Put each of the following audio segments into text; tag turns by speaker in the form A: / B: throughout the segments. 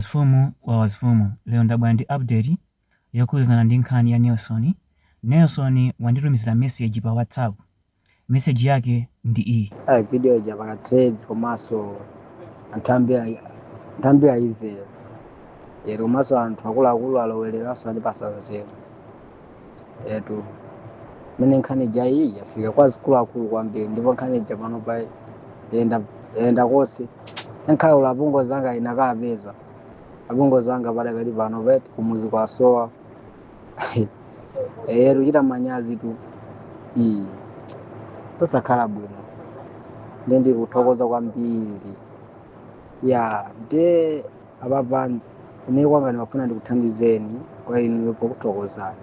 A: Wazifumu wa wazifumu lero ndabwera ndi update yokhuzana ndi nkhani ya Nelson, Nelson wanditumizila message pa whatsapp message yake ndi iyi. Ayi video ija yapanga
B: trend komanso anthu ambiri ayi- anthu ambiri ayimvera lero komanso anthu akuluakulu alowereranso andipasa nzeru etu mene nkhani ija iyi yafika kwa akuluakulu kwambiri ndipo nkhani ija pano pa yenda yenda konse ngakhale apongozi anga inakapeza apongozi anga padakali pano pa eti kumuzi kwasowa eyetu kuchita manyazi tu eti osakhala bwino ndi ndikuthokoza kwambiri ya nde Apapa ine kwanga ndimafuna ndikuthandizeni kwa inuyo pokuthokozani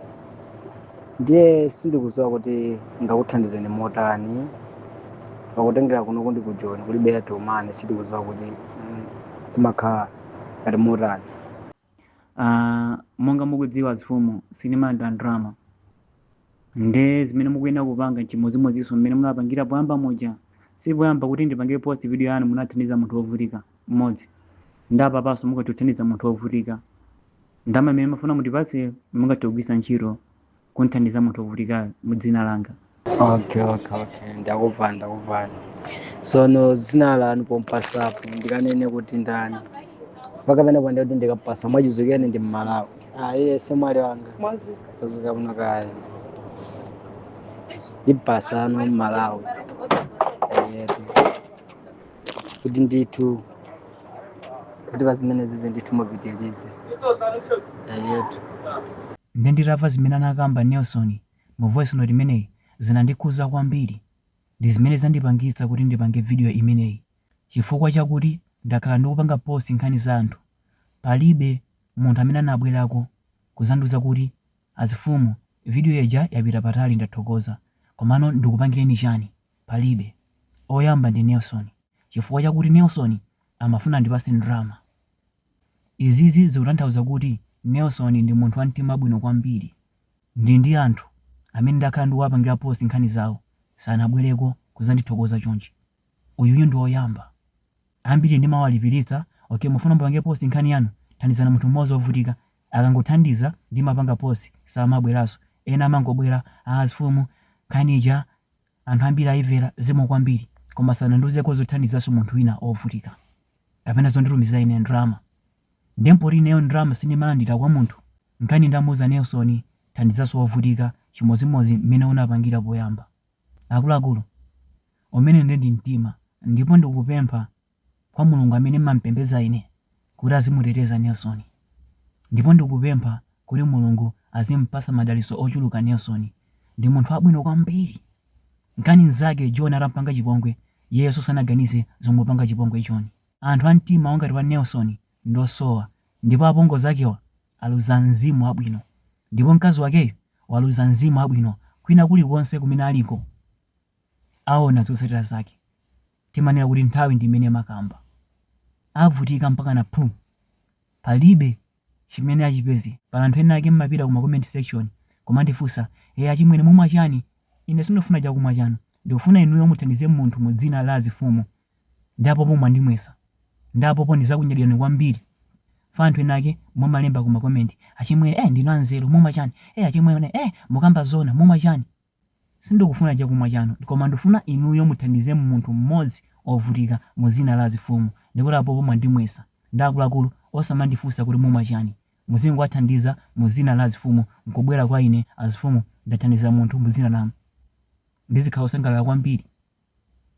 B: ndiye sindikuziwa kuti ningakuthandizeni motani pakutengera kuno ndi ku joni kulibe airtel money sindikuziwa kuti mm, timakhala ngati motani Ah,
A: monga mukudziwa azifumu sinimalanda ndrama nde zimene mukuyenera kupanga nchimodzimodzinso mmene munapangira poyamba muja sipoyamba kuti ndikupangireni post video yanu munathandiza munthu wovutika mmodzi ndapapanso mungathe kuthandiza munthu wovutika ndama imene mumafuna mutipatse mungathe kugwisa ntchito kuthandiza munthu wovutikayo mu dzina langa okay
B: okay okay ndakuva ndakuva sono zina lanu pompatsapo ndikanene kuti ndani pakapezeka pandakuti ndikapasa mwachizukeni ndi mmalawi Ayise mwali wanga tazuka muno kale ndipasa ano mmalawi yetu kuti ndithu kuti pazimenezizi ndithu mupitilize
A: yetu Nde nditava zimene anakamba Nelson mu voice note imeneyi zinandikhuza kwambiri ndizimene zandipangitsa kuti ndipange video imeneyi chifukwa chakuti ndakhala ndikupanga post nkhani za anthu palibe munthu amene anabwerako kuzandiuza kuti azifumu video ija yapita patali ndathokoza komano ndikupangireni chani palibe oyamba ndi Nelson chifukwa chakuti Nelson amafuna andipase ndrama izizi zikutanthauza kuti Nelson ndi munthu wamtima wabwino kwambiri nde anthu amene ndakhala ndikuwapangira post nkhani zawo sanabwereko kuzandithokoza chonchi uyuyu ndi oyamba ambiri ndimawalipiritsa ok mukufuna ndipange post nkhani yanu thandizani munthu mmodzi ovutika akangothandiza ndimapanga post samabweraso ena amangobwera aa azifumu nkhani ija anthu ambiri ayivera zikomo kwambiri koma sanandiuzeko zothandizaso munthu wina ovutika kapena zonditumizira ine ndalama nde mpoti ineyo ndalama sindimalandira kwa munthu nkaona ndamuuza Nelson thandizaso ovutika chimodzimodzi mmene unapangira poyamba. Akuluakulu, umene nde ndi mtima, ndipo ndikupempha kwa Mulungu amene m'mampembedza ine kuti azimuteteza Nelson. Ndipo ndikupempha kuti Mulungu azimpatsa madalitso ochuluka Nelson. Ndi munthu wabwino kwambiri. Ngakhale nzake John atampanga chipongwe, iyeyo so sanaganize zomupanga chipongwe John. Anthu a mtima ongati wa Nelson ndosowa ndipo apongozi akewa aluza mzimu wabwino ndipo mkazi wakeyu waluza mzimu wabwino kwina kulikonse kumene aliko aona zotsatira zake timanena kuti nthawi ndi imene imakamba avutika mpakana phu palibe chimene achipeze pali anthu ena ake mmapita kuma comment section kumandifunsa e achimwene mumwa chani ine sindifuna chakumwa chanu ndikufuna inuyo muthandize munthu mu dzina la azifumu Ndi apopo mwandimwesa. Ndi apopo ndizakunyadirani kwambiri Ya anthu ena ake mumalemba kuma comment achimwene eh ndinu anzeru mumwa chani eh achimwene eh mukamba zoona mumwa chani sindikufuna chakumwa chanu koma ndufuna inuyo muthandize munthu mmodzi ovutika muzina la azifumu ndikuti apopo mwandimwesa nde akuluakulu osamandifunsa kuti mumwa chani muzingowathandiza muzina la azifumu nkubwera kwa ine azifumu ndathandiza munthu muzina lanu ndizikhala osangalala kwambiri